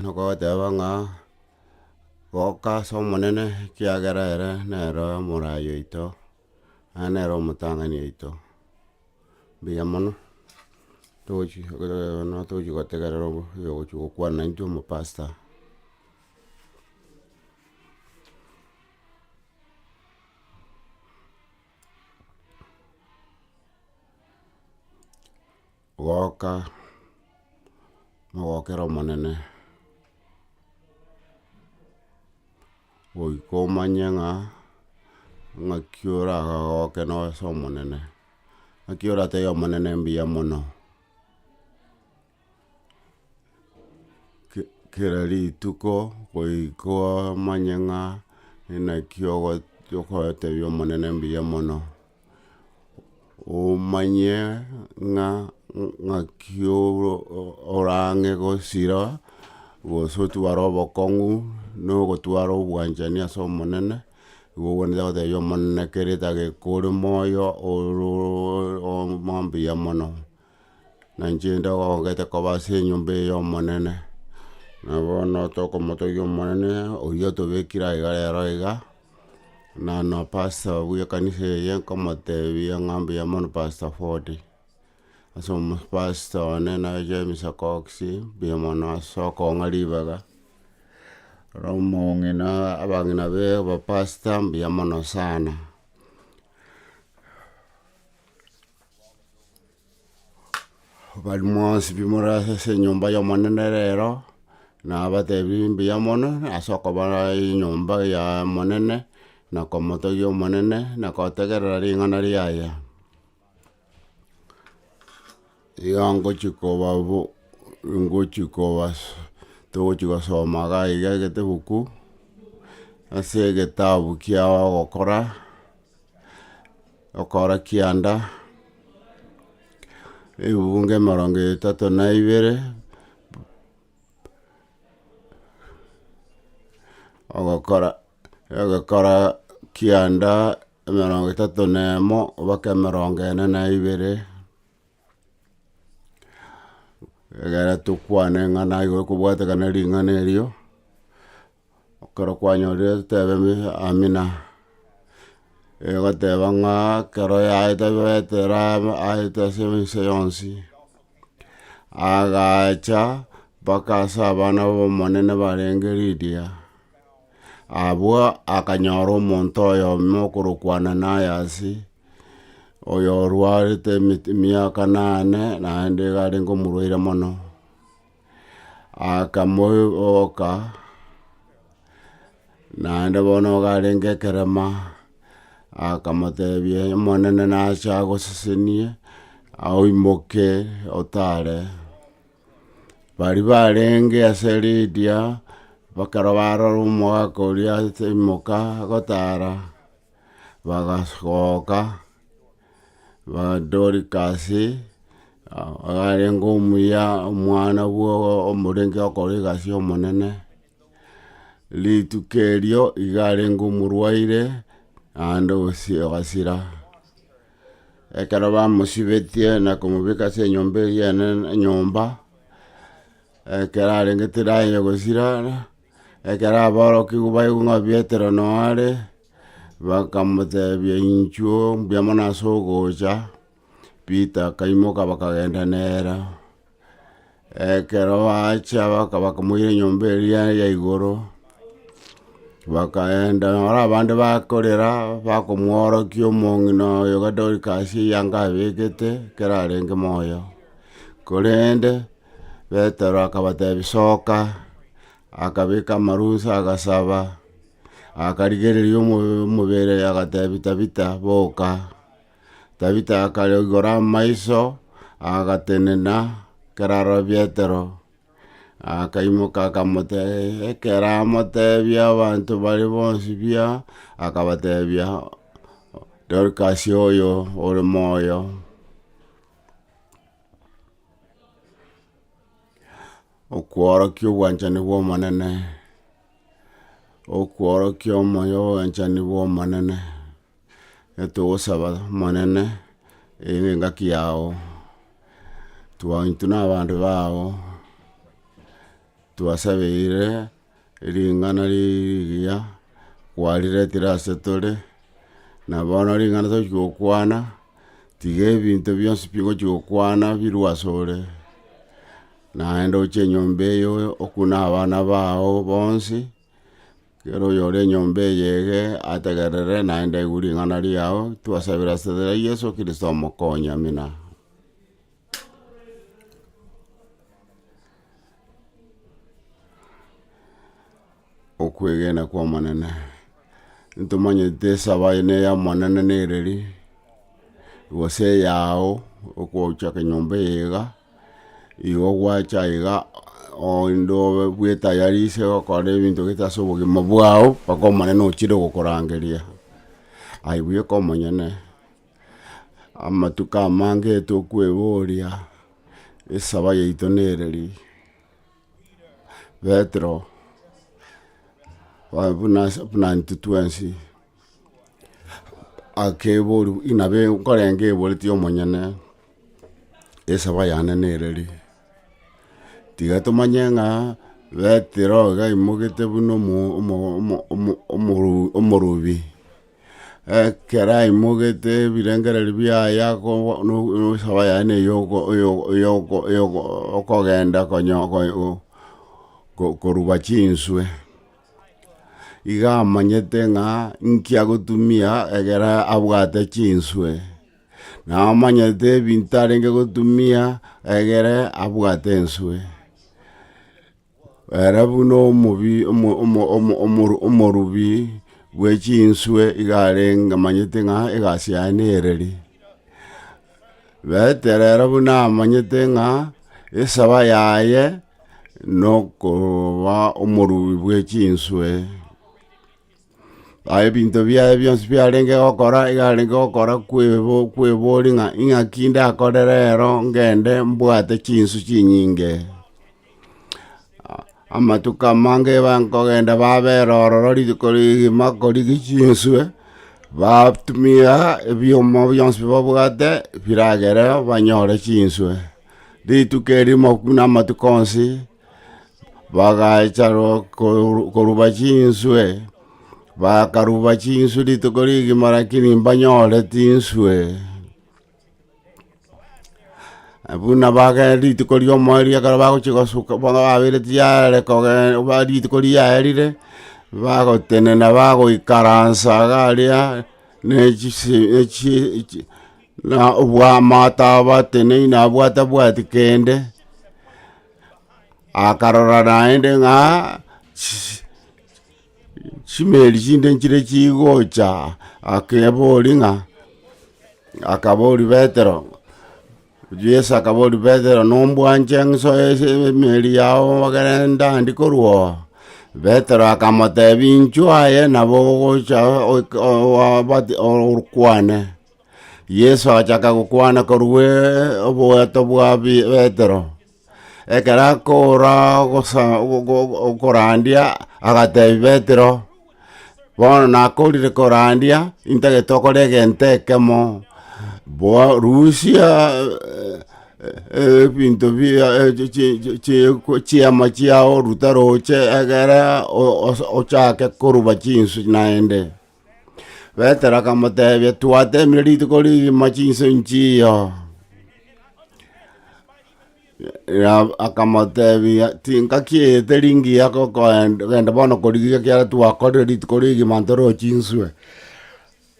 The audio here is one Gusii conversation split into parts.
Nokobateba ng'a, Goka ase Omonene, ekiagera ere nere omorai oito, naende nere omotang'ani oito. Mbuya mono, togochi bono togochi gotegerera obo oyogochi gokwana naintwe omopasta. Goka, mogokera Omonene, goika omanye ng'a ng'aki oragagoke noyo ase Omonene. Ng'aki oratebie Omonene mbuya mono. kera rituko goika omanye ng'a inaki ogo- okoetebia omonene mbuya mono. Omanye ng'a ng'aki oro- o- orang'e gosira gose otware obokong'u na ogotwara obwanchani ase omonene, igo okonyora ogotebia omonene kera etageka ore moyo oro mbuya mono. na inche inde ogogete koba ase enyomba eye y'Omonene, na bono tokomotogia Omonene, oyio otobekire aiga rero iga, na na pastor obu ekanisa eye nkomotebia ng'a mbuya mono pastor Foti, ase omo pastor one na James Okox, mbuya mono ase okong'a ribaga, na omong'ina abang'ina be ba pastor mbuya mono sana. Bari mwonsi pi more ase enyomba y'Omonene rero, nabatebirie mbuya mono ase okoba enyomba y'Omonene, na komotogia Omonene, na gotegerera ring'ana riaye. Iga ngochia koba bo ngochia koba togochia gosoma iga iga egetebuku, ase egetabu kia ogokora. okora kianda, ebungo emerongo etato na ibere, ogokora ogokora kianda emerongo etato na emo mpaka emerongo ene na ibere, egere tokwane ng'a naigo ekobwatekana ring'ana erio. Ekero kwanyorire totebe amina, egoteba ng'a ekero yaete baete eraba aete ase ense yonsi, agacha mpaka ase abana b'omonene barenge Lidia, abwo akanyora omonto oyomo okorokwa Ananiasi, oyorwarete emit- emiaka nane, naende iga arenge omorwaire mono. akamoiboka, naende bono iga arenge ekerema, akamotebia omonene nache agosesenie, oimoke otare, baria barenge ase ridia, ekero barora omogaka oria aimoka gotara. Bagasoka Dorikasi, arenge omuya omwana bw'omorenge okora egasi y'Omonene, rituko erio iga arenge omorwaire naende osi ogasira. Ekero bamosibetie na komobeka ase enyomba eria enene enyomba, ekero arenge tiraye gosira. Ekero aborokigwa baigwa ng'a Petero noo are, bakamotebia, Inchuo mbuya mono ase ogocha. Peter akaimoka bakagenda nere. Ekero bachia baka- bakamoira enyomba eria ya igoro, bakaenda naro abande bakorera, bakomworokia omong'ina oyo ga Dorcas eyanga abekete, ekero arenge moyo. Korende, Petero akabatebia, Soka. Akabeka amarusa, agasaba, akarigereria omo- omobere, agatebia, Tabita, boka. Tabita akaigora amaiso, agatenena, ekero arora Petero, akaimoka akamote- ekero amotebia abanto baria bonsi buya, akabatebia, Dorkasi oyo ore moyo. Okworokia obwanchani bw'Omonene, okworokia omoyo obwanchani bw'Omonene, etogosaba Omonene ere engaki yao, twa intwe na abande bao, twasabeire. Ring'ana rigiya kwariretire ase tore, na bono ring'ana tochia gokwana, tiga ebinto bionsi pi ogochia gokwana birwe asore, naende oche enyomba eye okune abana bao bonsi, kera oyore enyomba eye ege ategerere naende aigwe ring'ana riao, twasabera ase ria yeso kristo omokonye, amina. okwegena kwa Omonene. Ntomanyete esaba eye neya Omonene nereri, gose eyao, okochaka enyomba eye iga, igo gwacha iga oende obe bwe tayari ase ogokora ebinto gete ase obogima bwao, mpaka Omonene ochire gokorangeria, aye bweka omonyene. Amatuko amange tokweboria esaba yaito nere ri? Petero, ba- buna ase buna intwe twensi, akeboru inabe nkorenga eboreti omonyene, esaba yane nere ri? Tiga tomanye ng'a Petero iga aimogete buna omo- omo- omo- omo- omoru- omorubi. Ekero aimogete ebirengererio biaye akobo- no- nosaba yaye na eyoko- oyo- oyoko- oyoko- okogenda konyo- ko- o- ko- koruba chinswe, iga amanyete ng'a nki agotumia egere abwate chinswe, na amanyete ebinto arenge gotumia egere abwate enswe. Ere buna omobi, omo- omo- omo- omo- omorubi bwe chinswe iga arenge amanyete ng'a egasi yaye nereri. Betero ere buna amanyete ng'a esaba yaye nokoba omorubi bwe chinswe. Aye ebinto biaye bionsi biarenge gokora iga arenge gokora kwebo kweboria ng'a ing'aki ndakore rero ngende mbwate chinsu chinyinge. Amatuko amange bankogenda babera ororo rituko rigima korigi chinswe, batumia ebioma bionsi bi babwate biragereo banyore chinswe, rituko erimo buna amatuko onsi. Bagacha ro- koru- koruba chinswe, bakaruba chinswe rituko rigima rakini mbanyore tinswe. Buna bagenda rituko riomoerio ekero bagochi gosuka bono babeireti yare kogen ba rituko riaerire, bagotenena bagoikaransa iga aria, na echise echie echi na obwamato abateneine abwo atabwati kende. akarora naende ng'a chi- chimeri chinde nchire chigocha, akebori ng'a, akabori Petero, Yeso akabori Petero, nombwanche ng'so ese emeri yao egere ndandi korwa oo? Petero akamotebi, Inchuo aye nabo ogocha oik- oa- obati- okwane. Yeso agachaka gokwana korwa oboeto bwa Bi- Petero. Ekero akoora gosa- go- go- go- okorandia, agatebia Petero, Bono nakorire korandia, intagete okore egento ekemo, bua rusia ebinto bia chi- chi- chi- chiku- chiama chiao orute roche egere o- os- ochake koruba chinsu naende. Petero akamotebia, Twateemire rituko rigima chinse nchiiyo. Ra- Akamotebia, Tingaki eye teri ngiya gokoen- genda bono korigia ekiagera twakorire rituko rigima ntoroche inswe.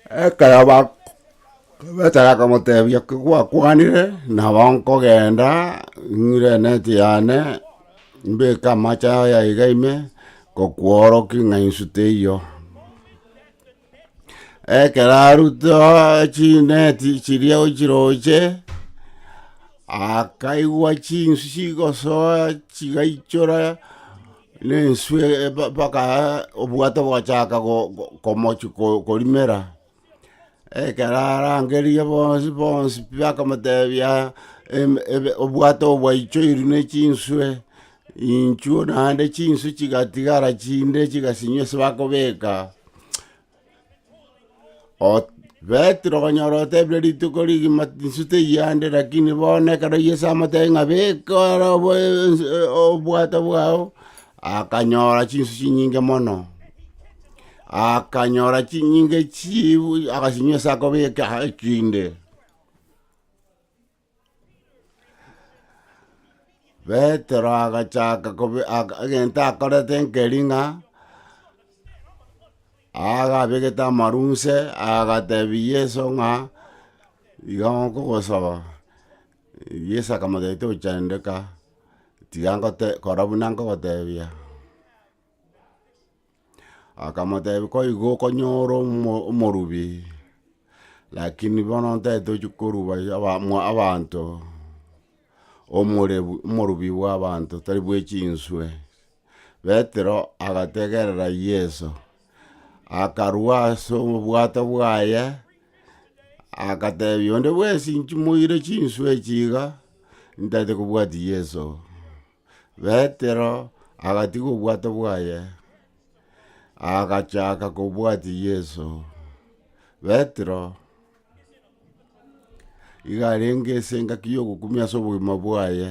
Ekero ba- Petero akamotebia, Kigwakwanire, nabo nkogenda, ng'ire enet yane. Mbeke amache ao yaiga ime, ngokworokia ng'a insu teiyo. Ekero arutire oo chineti chiria ochiroche, akaigwa chinsu chigosoa chigaichora na ensu mpaka obwato bogachaka komochi korimera. Ekero arangerie bonsi bonsi pi bakamotebia, "Em- ebe- obwato obo bwaichoirwe ne chinswe, inchuo naende chinswe chigatigara chinde chigasinywa ase bakobeka, Ot- Petero okonyora otebire rituko rigima inswe teyande, rakini bono ekero Yeso amotebirie ng'a beka are obo ense- obwato bwao, akanyora chinswe chinyinge mono. Akanyora chinyinga echiibu, agachinyusa akobeka aha echinde. Petero agachaka kobe ag- egento akorete nkeri ng'a agabegete amarunse agatebia Yeso ng'a iga nkogosaba. Yeso akamotebia tochandeka, tiga ngote kora buna nkogotebia. Akamoteebia, Koigo okonyora omo- omorubi, lakini bono ntaete ochi koruba aba- mwa abanto, omorebu omorubi bwa abanto tari bwe chinswe. Petero agategerera Yeso, akarwa ase obwato bwaye, akateebia onde bwensi nchimoire chinswe echi iga, ntaete kobwatia Yeso. Petero agatiga obwato bwaye, agachaka kobwatia Yeso. Petero iga arenge ase engaki ya ogokumia ase obogima bwaye,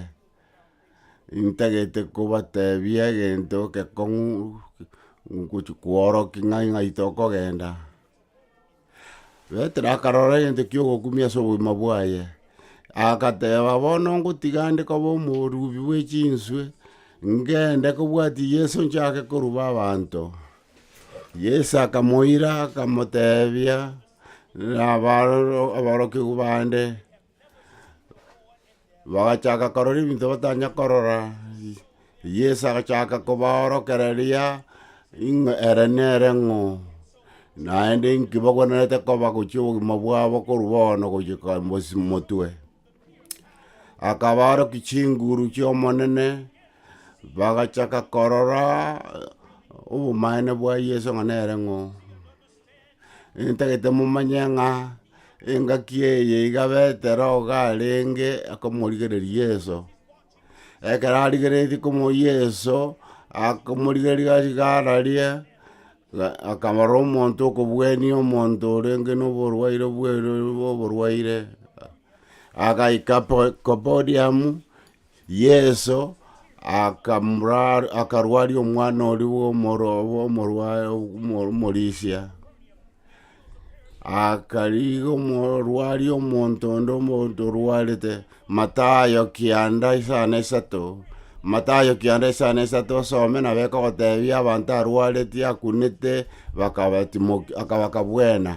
intagete kobatebia egento ekekong'u gochi kworokia ng'ai ng'ai tokogenda. Petero akarora egento ki'ogokumia ase obogima bwaye, agateba, bono ngotiga nde koba omorubi bwe chinswe, ngende kobwatia Yeso nchake koruba abanto. Yeso akamoira akamotebia, nabaroro aborokigwa bande, Bagachaka korora ebinto batanya korora, Yeso agachaka kobaorokereria ing'o ere nere ng'o, naende inki bagwenerete koba gochia obogima bwabo korwa bono gochia ka mbosi motwe. Akabaorokia chinguru chi'Omonene, bagachaka korora obomaene bwa Yeso ng'a nere ng'o. Intagete momanye ng'a engaki eye iga Petero iga arenge akomorigereria Yeso, ekero arigeretie komoa Yeso, akomorigereria gachika ararie, ga- akamora omonto okobuenia omonto orenge na oborwaire bwere oborwaire, agaika po- kopodiamu, Yeso akamra- akarwaria omwana oria bw'omoro- bw'omorwae- omo- omorisia, akarigia omorwaria omonto onde omonto orwarete, Matayo kianda isano isato, Matayo kianda isano isato osome nabo ekogotebia abanto arwareti akunete, bakabatimoki- akabaka bwena.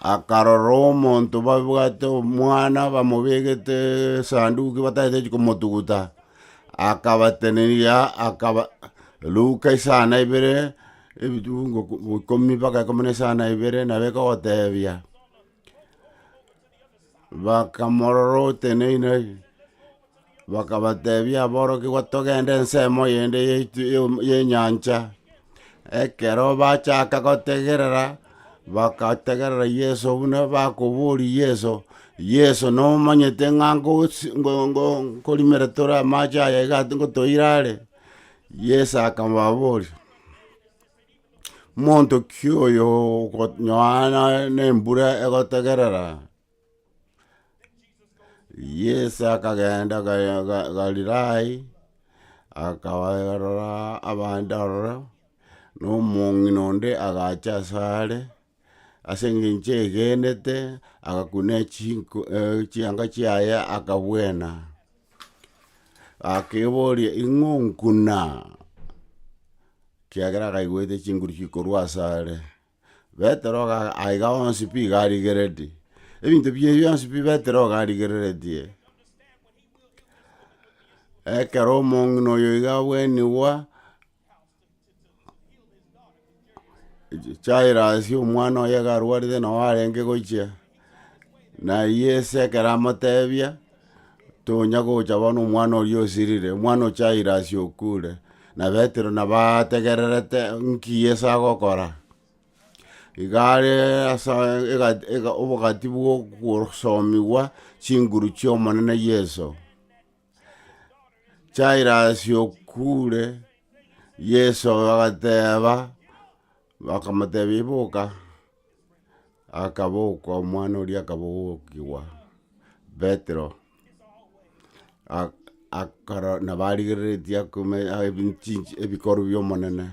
akarora omonto babwate omwana bamobegete esanduki batagete ki komotuguta, akabatenenia akaba ruka esana ibere ebitunguku ikomi mpaka ikomi na esano na ibere nabo ekogotebia. Bakamorora oteneine, bakabatebia aborokigwa togende ensemo eyende yaitu ye- yenyancha, ekero bachaka gotegerera, bakategerera yeso buna bakoboria yeso, yeso nomanyete ng'a ngosi ngo- ngo- nkorimera tore amache aya iga ati ngotoira are? Yeso akababoria. Monto ki oyo okonyoana nembura egotegerera? Yeso akagenda Ga- Ga- Galilayi, akabarora abande ororo, na omong'ina onde agacha asare. ase engencho egenete, agakuna chinko eh chianga chiaye akabwena, akeboria ing'o nkuna? kiagera akaigwete chinguru chikorwa asare, Petero iga aiga onsi pi iga arigereti, ebinto bie bionsi pi Petero iga arigereretie, ekero omong'ina oyo iga abwenigwa. Jairasi, omwana oye karwarete nao arenge gochia, na Yeso ekero amotebia, tonya gocha bono omwana oria osirire, omwana o Jairasi okure, na Petero nabo ategererete nki Yeso agokora. Igare ase ega- ega obogati bwa ogosomigwa chinguru chiomonene Yeso. Jairasi okure, Yeso agateba, bakamotebia iboka, akabokwa omwana oria akabokigwa Petero, ak- akaro nabo arigereretie akome- a- ebin- chinchi- ebikorwa biomonene,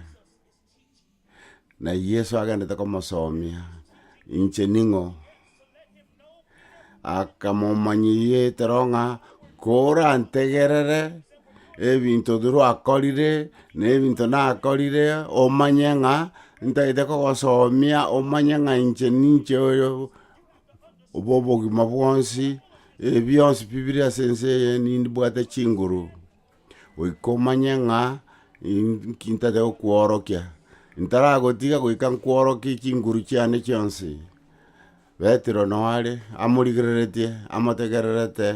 Na Yeso agenderete komosomia, inche ning'o? Akamomanyia ekero ng'a korantegerere ebinto birwe akorire, na ebinto nakorire omanye ng'a ntagete kogosomia omanye ng'a inche ninche oyo obo obogima bwonsi, ebi bionsi pi bire ase ense eye nindi bwate chinguru. goika omanye ng'a inki ntate gokworokia, ntaragotiga goika nkworokie chinguru chiane chionsi, Petero nao are amorigereretie amotegererete,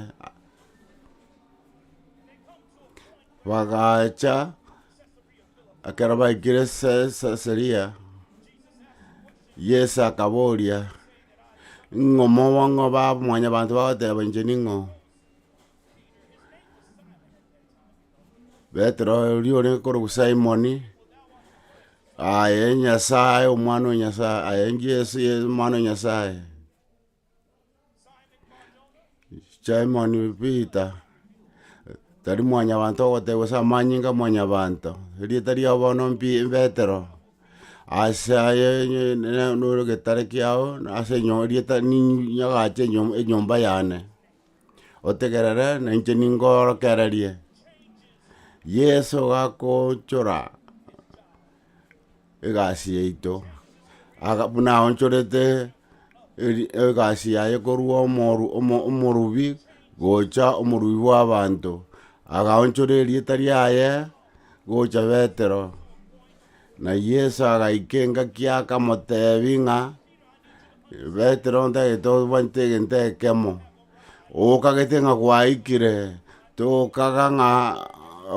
bagacha ekero baikire Se- Sesaria, Yeso akaboria, ng'o moba ng'o ba mwanyabanto bagoteba inche ning'o? Petero oria ore korokwa Simoni, aye Nyasae, omwana o Nyasae, aye Jesu ye omwana o Nyasae. Simoni Peter, tari mwanyabanto ogotebiwa ase amanyinga a mwanyabanto, erieta riao bono mpi Petero, ase aye ne- ne- noro getare kiao, ase enyo- erieta ninyi nyagache enyo- enyomba yane. otegerere, na inche ninkoorokererie. Yeso gakoonchora egasi yaito, aga- buna aonchorete eri- egasi yaye korwa omoru- omo- omorubi gocha omorubi bwa abanto, agaonchora erieta riaye gocha betero, na yeso agaika engaki akamotebi ng'a. Petero ntagete obwate egento ekemo, okagete ng'a gwaikire, tokaga ng'a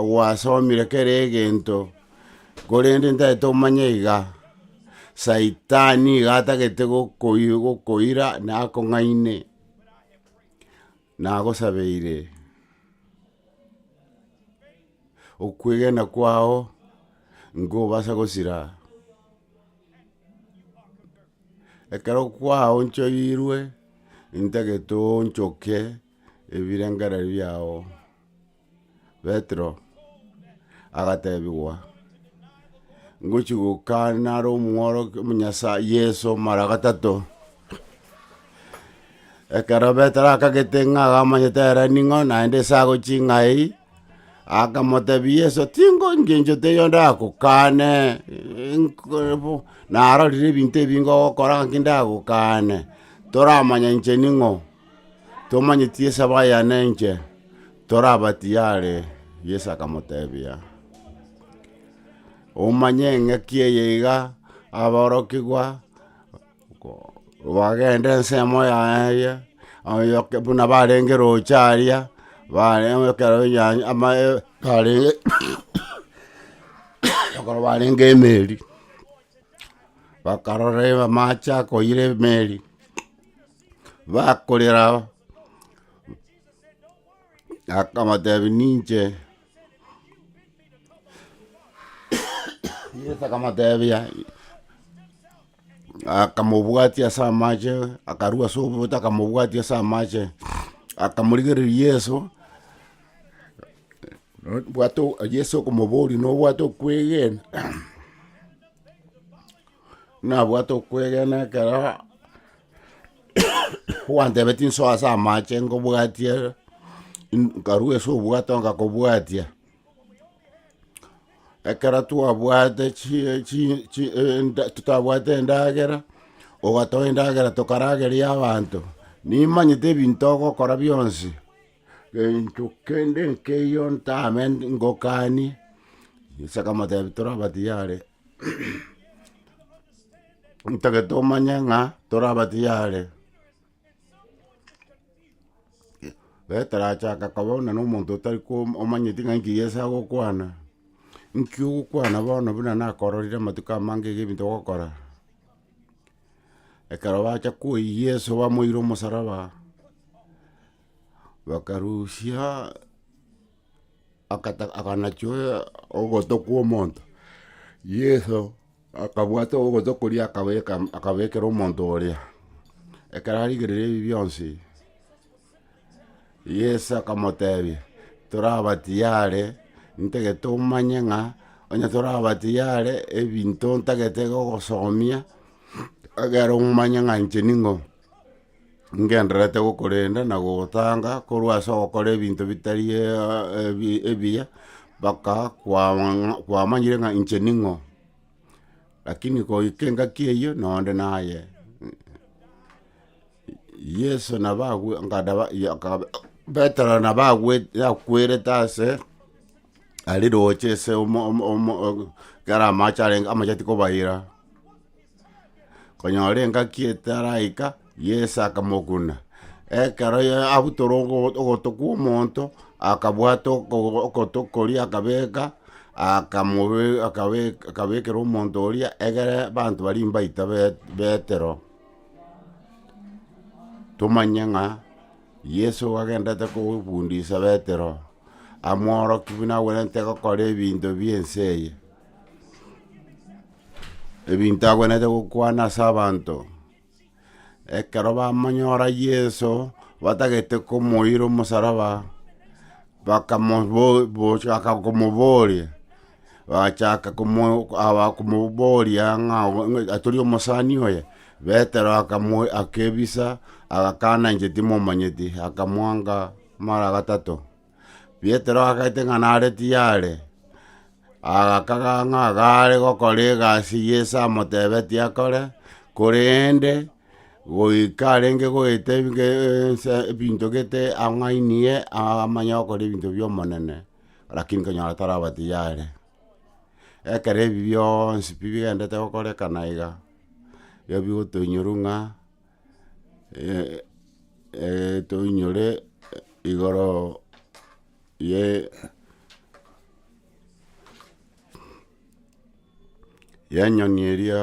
gwasomire kera egento, korende ntagete omanye iga, saitani iga atagete gokoi- gokoira nakong'aine. Nagosabeire, okwegena kwao nkobasa gosira, ekero kwaonchoirwe ntagete oonchoke ebirengererio biao. Petero agatebigwa, Ngochia gokana are omworokia omonyasae Yeso mara gatato. Ekero Petero akagete ng'a agamanyete ere ning'o naende ase agochia ing'a eyio, akamotebia Yeso, tingo ngencho teiyo ndagokane narorire ebinto ebinge ogokora ngaki ndagokane, toramanya inche ning'o. Tomanyeti Yeso abe aya nenche, tore aba tiyare. Yeso akamotebia, Omanye engaki eye iga, aborokigwa bagende ensemo yaye, oyo buna barenge roche aria, bare- oe- ekero enyancha amaye- barenge ekero barenge emeri, bakarora amache akoira emeri, bakorera ao, akabatebi ninche Yeso akamotebia akamobwatia ase amache, akarua ase oboto akamobwatia ase amache, akamorigereria Yeso, bwate Yeso okomoboria nobwate okwegena? nabwate okwegena ekero gwantebetie insoa ase amache nkobwatia in- nkarwa ase obwato ngakobwatia, ekero twabwate chie- chi- chi- enda totabwate endagera, ogatoa endagera tokaragerie abanto, nimanyete ebinto ogokora bionsi, gento kende nkeiyo ntame ngokani, yisa akamotebi toraba tiyari. ntagete omanye ng'a toraba tiyare getarachaka koba buna na omonto otari ko omanyeti ng'a enki yesa agokwana, nki ogokwana bono buna nakororire amatuko amange iga ebinto ogokora, ekero bacha koyia yeso bamoire omosaraba, bakarusia. akata akanachio ogoto kwa omonto, Yeso akabwata ogoto koria akabeka akabekera omonto oria, ekero arigereire ebi bionsi, Yeso akamotebia, toraba tiyare ntege tomanye ng'a onye toraba tiyare ebinto ntagete gogosomia, egere omanye ng'a inche ning'o. ngendererete gokorenda na gogotanga korwa ase ogokora ebinto bitari ebiya, mpaka kwamanya kwamanyire ng'a inche ning'o. Lakini goika engaki eyio na onde naye. Yeso nabo agwo ngadaba ya- kaba petero nabo agwete yakwerete ase ari roche ase omo- omo- omo- kera amache arenge amacheti kobaira. konyora engaki etaraika, Yeso akamokuna. Ekero ya- abutora ogo- ogoto kwa omonto, akabwata okogo- okoto koria akabeka, akamobe akabek- akabekera omonto oria egere abanto baria mbaito be- betero. Tomanye ng'a Yeso igo agendete kofundisa betero, amworokia buna agwenerete gokora ebinto bie ense eye. Ebinto agwenerete gokwana ase abanto, ekero bamonyora Yeso, batagete komoira omosaraba, bakamo bo bochaka komoboria, bachaka komo aba komoboria ng'a ng'a tori omosani oye? Betero akamo akebisa, agakana inche timomanyeti, akamwanga mara gatato. Petero agaete ng'a nare tiyare, agakaga ng'a iga are gokora egasi Yeso amotebetie akore, korende goika arenge goeta ebige ense ebinto gete ang'ainie amanye gokora ebinto bi'Omonene, lakini konyora taraba tiyare. Ekero ebi bionsi pi bigendete gokorekana iga, iga bigotoinyurwa ng'a. toinyore igoro ye yenyoni eria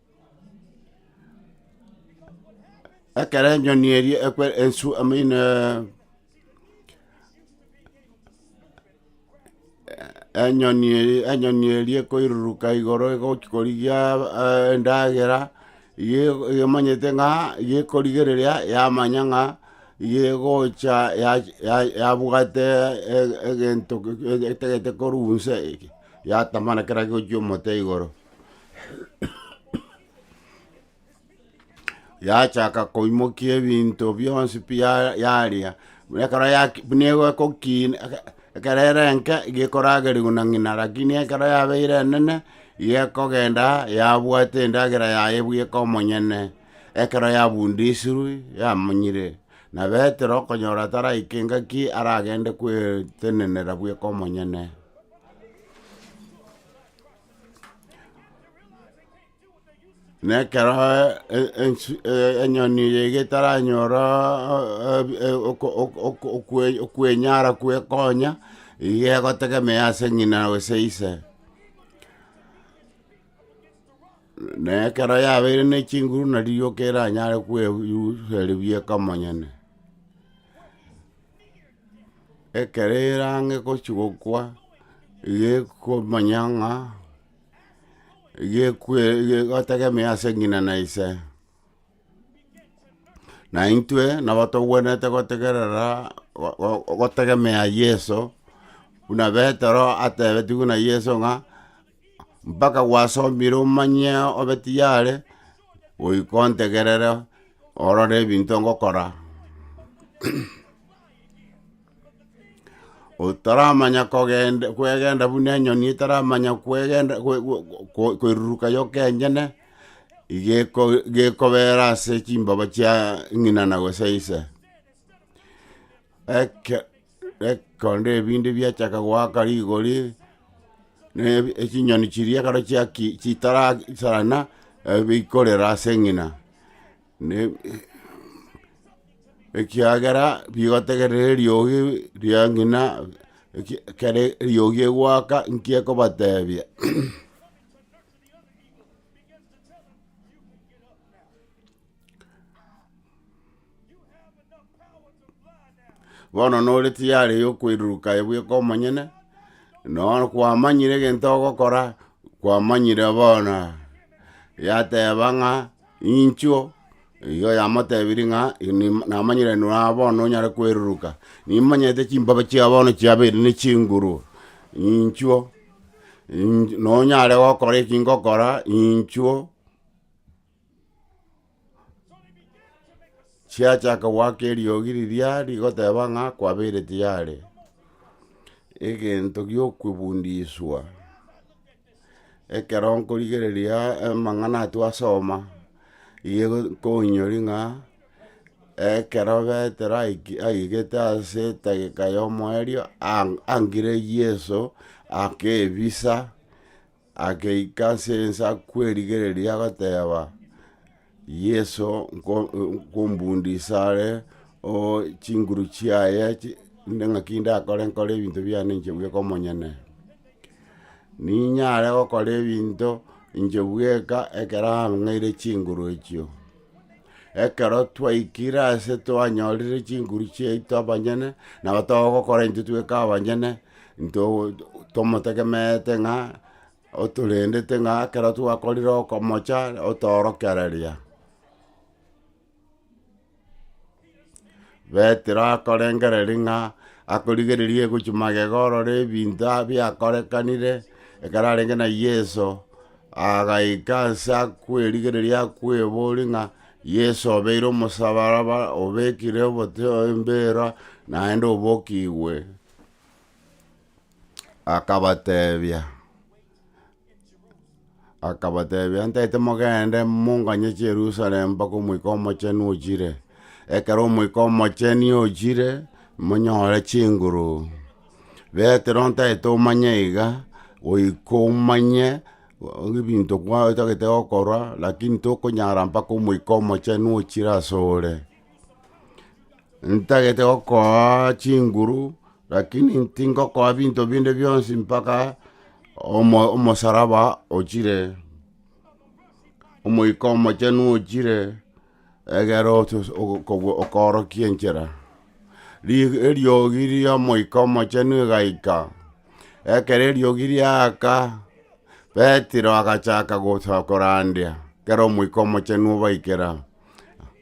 Ekero enyoni eria ekwe- ensu amaino enyoni eria enyoni eria ekoiruruka igoro egochia korigia endagera, iga emanyete ng'a iga ekorigereria yamanya ng'a iga egocha ya- ya- yabwate e- egento etagete korwa inse eke, yatamana kera gochia omote igoro. yachaka koimokia ebinto bionsi pi ya- yaria, buna ekero yaki buna egokina eke- ekero ere enke iga ekoragerigwa na ng'ina lakini ekero yabeire enene, iga ekogenda yabwate endagera yaye bweka omonyene, ekero yabundisirwe yamonyire. Na petero okonyora taraika engaki aragende kwetenenera bweka omonyene. Na ekero e- ensu- e- enyoni eye getaranyora e- e- oko- oko- oko- okwe- okwenyara kwekonya, iga egotegemea ase ng'ina gose ise. Na ekero yabeire ne chinguru narigia okeranyare kwebu- yuseribia ekamonyene. Ekero erange gochia gokwa, iga ekomanya ng'a iga ekwe iga egotegemea ase ng'ina na ise. Na intwe nabo togwenerete gotegerera go- go- gotegemea yeso, buna petero atebetigwe na yeso ng'a. mpaka gwasomire omanye obe tiyare, goika ontegerere orore ebinto ngokora. Otaramanya kogenda kwegenda buna enyoni etaramanya kwegenda kwe- kwe- kwe- kweruruka yoka enyene, iga eko- iga ekobera ase chimbaba chia ng'ina na gose ise. Eke. Ekero ebinto biachaka goaka rigori, na echinyoni chiria ekero chiaki chitara sarana, ebi bikorera ase eng'ina, na ekiagera bigotegerera eriogi ria ng'ina eki- ekere eriogi egoaka nki ekobatebia. Bono nore tiyari yokweruruka aye bweka omonyene, nonya kwamanyire egento ogokora, kwamanyire bono yateba ng'a inchuo, igo yamotebirie ng'a ime namanyire inwe aa bono onyare kweruruka, nimanyete chimbaba chia bono chiabere ne chinguru, inchuo inch nonyare gokora ekingokora inchuo. chiachaka goaka eriogi riria rigoteba ng'a kwabeire tayari, egento giokwebundiswa, ekero nkorigereria amang'ana ayio twasoma, igo nkonyori ng'a ekero betero aiki aigete ase etageka ya omoerio ang- angire yeso ake ebisa. Ageika ase ense akwerigereria, agateba, Yeso, nko- nkombundi ise are, oo chinguru chiaye chi- inde ng'aki ndakore nkore ebinto biane inche bweka omonyene. Ninyare gokora ebinto inche bweka ekero ang'eire chinguru echio. Ekero twaikire aase twanyorire chinguru chiaito abanyene, nabo togokora intwe tweka abanyene, into tomotegemeete ng'a otorendete ng'a ekero twakorire okomocha otorokereria. Petero akorengereria ng'a akorigereria egochia magega orore ebinto a- biakorekanire ekero arenge na Yeso, agaika anse akwerigereria akweboria ng'a, Yeso obeire omosabaraba, obekire obote oyo embera, naende obokigwe. Akabatebia. Akabatebia, Ntaete mogende, monganye Yerusalemu mpaka Omoika Omochenu ochire. Ekero Omoika Omocheni ochire, monyore chinguru. Betero ntaete omanye iga, goika omanye ebinto kwa otagete gokorwa, lakini tokonyara mpaka Omoika Omochenu ochire asore. Ntagete gokooa chinguru. Lakini tingokoa binto binde bionsi mpaka omo- omosaraba ochire, Omoika Omochenu ochire, egere otos- ogo- kobua- okoorokia enchera. Ri- eriogi ria Omoika Omochenu egaika, ekero eriogi riaaka, Petero agachaka gocha korandia, ekero Omoika Omochenu obaikera.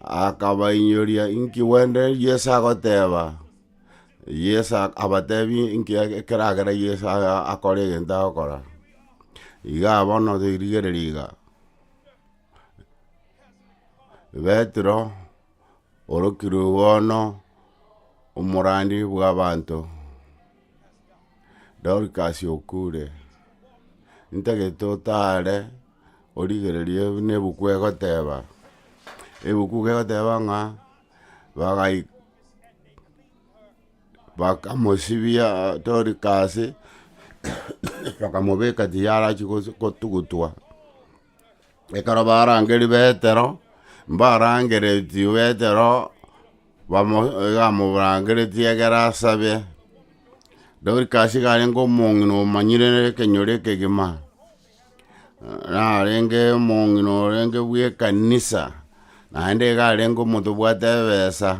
Akabainyoria inki gwende Yeso agoteba, Yeso ak- abatebi inki eke- ekeragera Yeso aya akore egento agokora. Iga bono toirigereri iga, Petero orokirwe bono omorandi bw'abanto, Dorcas okure, ntagete otare origererie buna ebuku egoteba, ebuku iga egoteba ng'a bagai bakamosibia torika ase bakamobeka tiyarachi gosu kotugutwa, ekero barangeri betero, mbarangereti betero bamo iga amorangereti egere asabe, Dorikasi iga arenge omong'ina omanyire ekenyoro ekegima. narenge omong'ina orenge bw'ekanisa, naende iga arenge omonto obwate ebesa,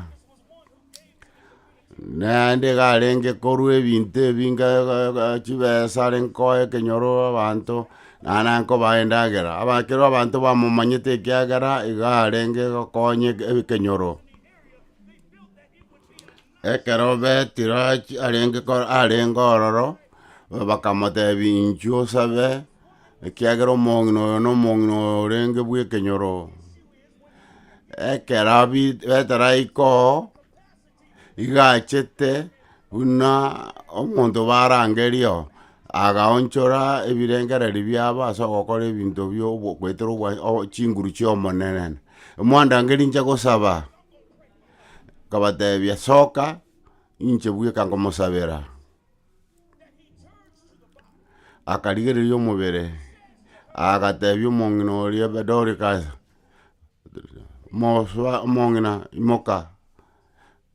naende iga arenge korwa ebinto ebinge ga- ga chibesa arenge koa ekenyoro abanto, naende arenge kobaa endagera, aba ekero abanto bamomanyete ekiagera iga arenge gokonya eke- ekenyoro. Ekero Petero achi- arenge ko- arenge ororo, bakamotebia, Inchuo osabe, ekiagera omong'ina oyo na omong'ina oyo orenge bw'ekenyoro. Ekero abi- Petero aika oo, iga achete buna omonto barangeria oo, agaonchora ebirengereri biabo ase ogokora ebinto bia obo- goetera obwa- o- chinguru chi'omonene, Omwandangeria inche gosaba. Akabatebia, Soka, inche bweka ngomosabera. Akarigereria omobere, agatebia omong'ina oria be- Dorcas, mosoa omong'ina imoka.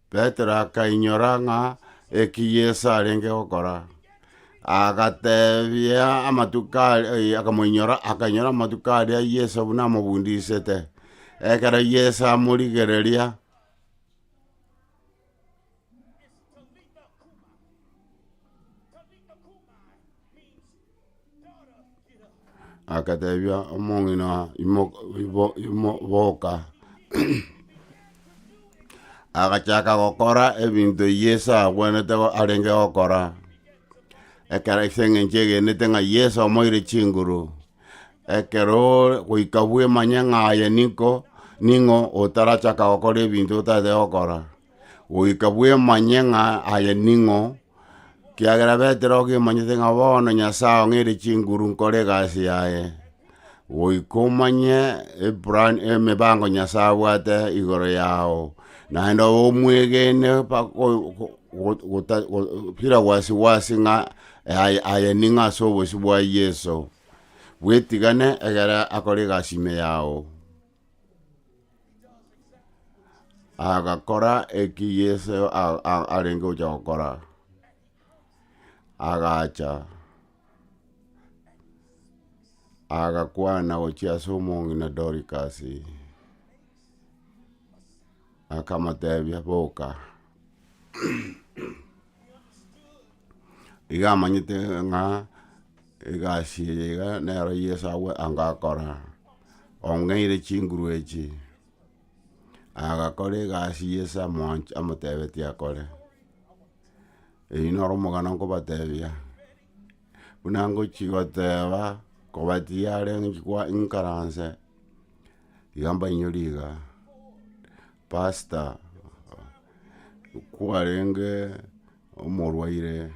Petero akainyora ng'a ekiyi Yeso arenge gokora, agatebia amatuko aria, eh, akamoinyora, akainyora amatuko aria Yeso buna amobundisete. Ekero Yeso amorigereria, Agatebia omong'ina oo, imoka ibo- imo boka, agachaka gokora ebinto eyi Yeso abwenerete go arenge gokora, ekero ase eng'encho egenete ng'a Yeso omoeire chinguru, ekero oore goika bwemanye ng'a aye ninko ning'o otarachaka gokora ebinto otatete gokora. goika bwemanye ng'a aye ning'o, kiagera Petero ogemanyete ng'a bono Nyasae ong'eire chinguru nkore egasi yaye, goika omanye eplan emebango Nyasae abwate igoro yao, naende obe omwegene bako- go- go- go- gota- go- bila wasi wasi ng'a aye- aye ning'o ase obosio bwa Yeso, bwetigane egere akore egasi ime yao. agakora eki Yeso a- a- arenge gocha gokora, agacha agakwana gochia ase omong'ina Dorikasi, akamotebia boka. Iga amanyete ng'a egasi eye iga nero Yeso agwo anga akora, ong'eire chinguru echi, agakora egasi Yeso amwanch- amotebetie akore. Eyio noro omogano nkobatebia, buna ngochi goteba kobatia are ng'chi kwa inkaranse, iga mbainyorire iga. Pastor kwarenge omorwaire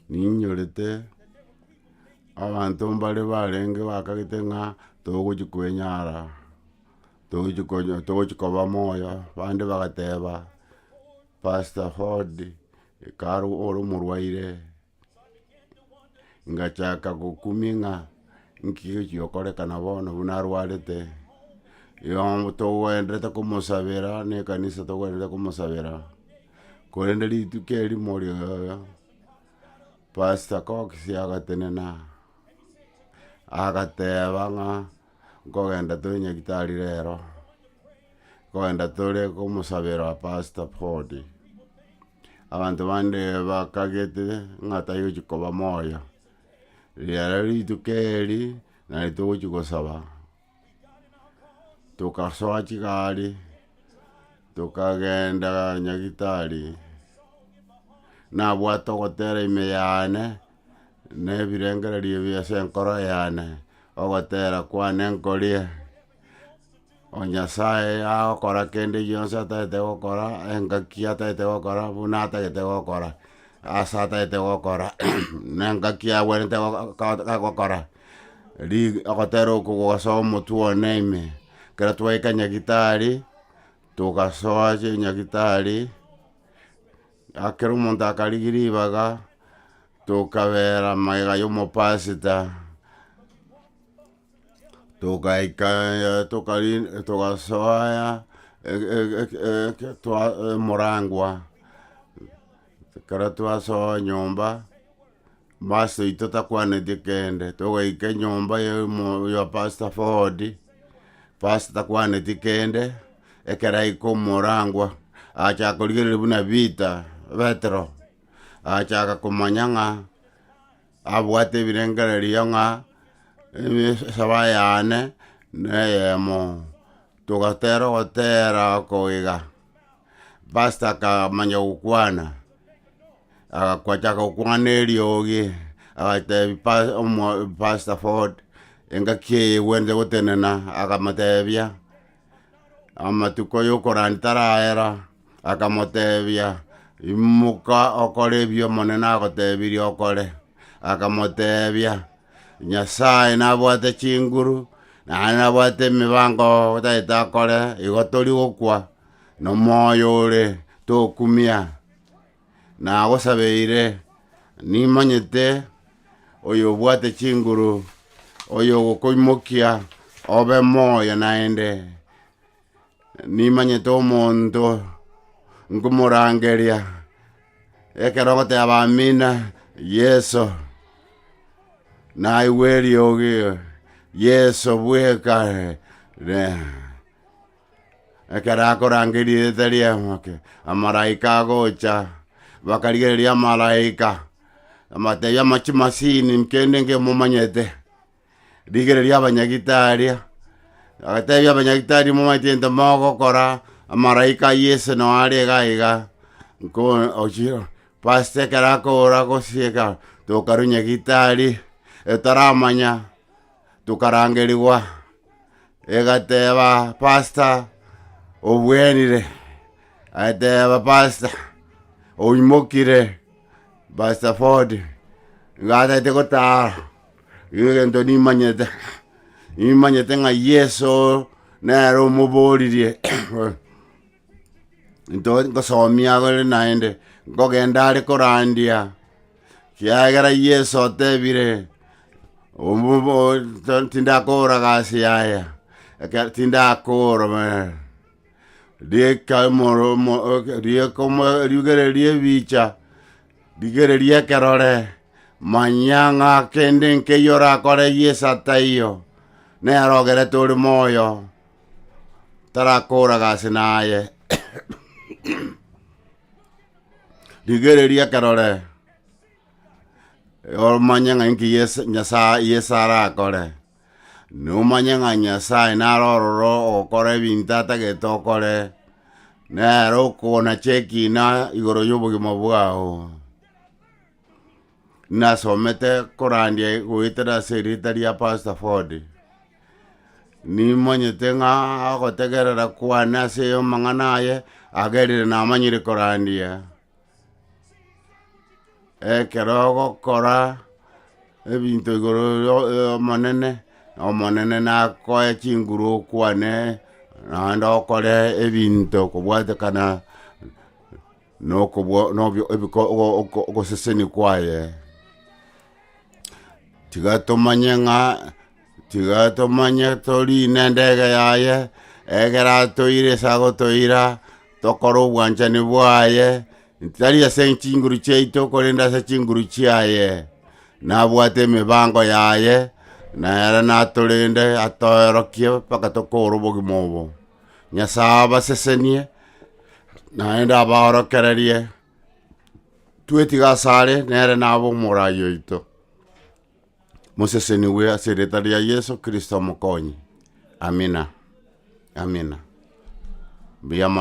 ninyorete abanto mbare barenge bakagete ng'a togochi kwenyara togochi konyo togochi koba moyo bande bagateba pastor Ford ekaro ore omorwaire ngachaka gokumia ng'a nki gechi gokorekana bono buna arwarete, igo togoenderete komosabera ne ekanisa togoenderete komosabera, korende rituko erimo rioyoyo, pastor Cox agatenena, agateba ng'a nkogenda tore nyagetari rero, nkogenda tore komosabera pastor Ford. Abanto bande bakagete ng'a tayochi koba moyo, riaro rituko eri nari togochi gosaba, togasoa chigari, tokagenda nyagitari, nabwate ogotera ime yane, na ebirengererio bia ase enkoro yane, ogotera kwane nkorie. O Nyasae agokora kende gionsi atagete gokora, engaki atagete gokora, buna atagete gokora, ase atagete gokora, na engaki agwenerete gogo gogo agokora, ri ogotera okogwa ase omotwe one ime, ekero twaika nyagetari, togasoa ase nyagetari, akera omonto akarigia ribaga, tokabera magega ya omopasita. togaika tokarina togasoa e- e- eke- eke toa emoragwa, ekero twasoa nyomba, master oito takwaneti kende, togaika enyomba ya omo ya pastor ford, pastor takwaneti kende, ekero aika omoragwa, achaka korigereria buna peter petero, achaka komanya ng'a. Abwate ebirengererio ng'a esaba yane neyemo, togatera ogotera oko iga. Pastor akamanya gokwana, agachaka gokwana eriogi, agatebi pa- omo- pastor Ford, engaki eye egwenerete gotenena, agamotebia Amatuko y'okorandi taraera, akamotebia, Imoka okore ebio Omonene agotebirie okore. Akamotebia, Nyasae nabwate chinguru, naende nabwate emibango tagete akore, igo tori gokwa nomoyo ore, tokumia. nagosabeire, nimanyete oyobwate chinguru, oyogokoimokia obe moyo naende, nimanyete omonto nkomorangeria ekero ogoteba Amina, Yeso, naigwe eriogi, Yeso bweka. Ekero akorangeria erieta ria Omoke, amalaika agocha, bakarigereria amalaika, amatebia ama chimasini kende nkemomanyete, rigereria abanyagitaria, agatebia abanyagitari momanyeti gento mogokora, amalaika a Yeso nao are iga iga, nko ochio pastor ekero akora gosieka tokarwa nyagitari, etaramanya, tokarangerigwa, egateba, Pasta, obwenire. Agateba, Pasta, oimokire. Pasta Ford, ngatete gotaara, nigo egento nimanyete, nimanyete ng'a Yeso nere omoboririe nto- ngosomia agore naende, nkogenda are korandia, kiagera Yeso otebire, obo- bo- to- tindakora gasi yaya, eke- tindakora bwe- rieka omoro- omo rieka omo riugereria ebicha, rigereria ekerore, manya ng'a kende nkeiyo orakore Yeso ataiyo, nere ogerete ore moyo. tarakooraga ase naye. Rigereria ekerore, omanye ng'a enki Yeso- Nyasaye- Yeso arakore, nomanye ng'a Nyasaye naro ororo ogokora ebinto atagete okore, nere okonacha ekina igoro yobogima bwao. Nasomete korandia goetera ase erieta ria Pastor Ford. Nimanyete ng'a ogotegerera kwane ase amang'ana aye, agerire namanyire korandia. Ekero ogokora ebinto igoro yo y'Omonene, Omonene nakoe chinguru okwane, naende okore ebinto kobwatekana. Nokobua nobio ebiko ogo- oko- ogoseseni kwaye. Tiga tomanye ng'a tiga tomanye torine endege yaye, egere atoire ase agotoira, tokore obwanchani bwaye, tari ase chinguru chiaito korende ase chinguru chiaye. Nabwate emebango yaye, nere natorende atoerokie mpaka tokoora obogima obo. Nyasae abasesenie, naende abaorokererie. Twetige asare nere nabe omorai oito, mosesenigwe ase erieta ria Yeso Kristo Omokonyi. Amina. Amina. Mbuya mono.